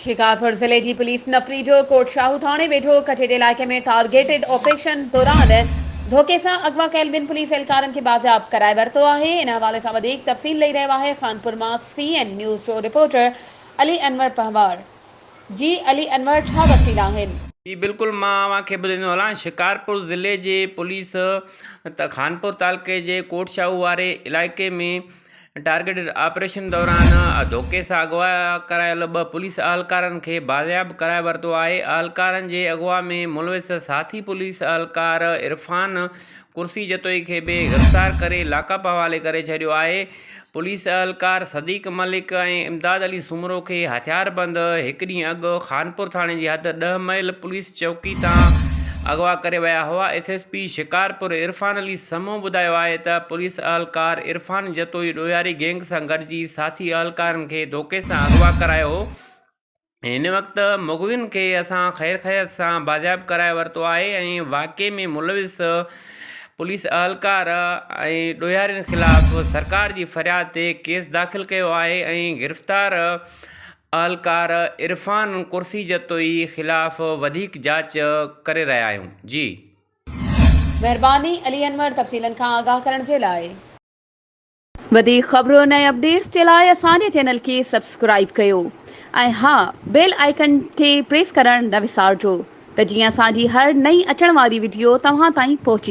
شڪارپور ضلعي جي پوليس نپريجو ڪوٽ شاهو ٿاڻي ويجهو ڪچهري علائقي ۾ ٽارگيٽڊ آپريشن دوران ڌوڪي سان اغوا ڪيل ٻن پوليس اهلڪارن کي بازياب ڪرائي ورتو آهي ان حوالي سان وڌيڪ تفصيل ڏئي رهيو آهي خانپور مان سي اين نيوز جو رپورٽر علي انور پنهوار جي علي انور ڇا تفصيل آهن. جي بلڪل مان اوهان کي ٻڌائيندو هلان شڪارپور ضلعي جي پوليس خانپور تعلقي جي ڪوٽ شاهو واري علائقي ۾ ٽارگيٽڊ آپريشن دوران ڌوڪي سان اغوا ڪرايل ٻه پوليس اهلڪارن کي بازياب ڪرائي ورتو آهي اهلڪارن جي اغوا ۾ ملوث ساٿي پوليس اهلڪار عرفان قرشي جتوئي کي به گرفتار ڪري لاڪ اپ حوالي ڪري ڇڏيو آهي پوليس اهلڪار صديق ملڪ ۽ امداد علي سومرو کي هٿياربند هڪ ڏينهن اڳ خانپور ٿاڻي جي حد ڏهه ميل پوليس چوڪي تان اغوا ڪري ويا هئا، S S P Shikarpur Irfan Ali Samoon ٻڌايو آهي ته پوليس اهلڪار عرفان جتوئي ڏوهياري گينگ سان گڏجي ساٿي اهلڪارن کي ڌوڪي سان اغوا ڪرايو هو هن وقت مغوين کي اسان خير خيرت سان بازياب ڪرائي ورتو آهي ۽ واقعي ۾ ملوث پوليس اهلڪار ۽ ڏوهيارين خلاف سرڪار جي فرياد تي ڪيس داخل ڪيو آهي ۽ گرفتار اهلڪار عرفان قرشي جتوئي خلاف وڌيڪ جاچ ڪري رهيا آهيون جي. مهرباني علي انور تفصيلن کان آگاهه ڪرڻ جي لاء. وڌيڪ خبرن ۽ اپڊيٽس جي لاء اسان جي چينل کي سبسڪرائيب ڪيو ۽ ها بيل آئيڪن کي پريس ڪرڻ نه وسارجو ته جيئن اسان جي هر نئين اچڻ واري وڊيو توهان تائين پهچي.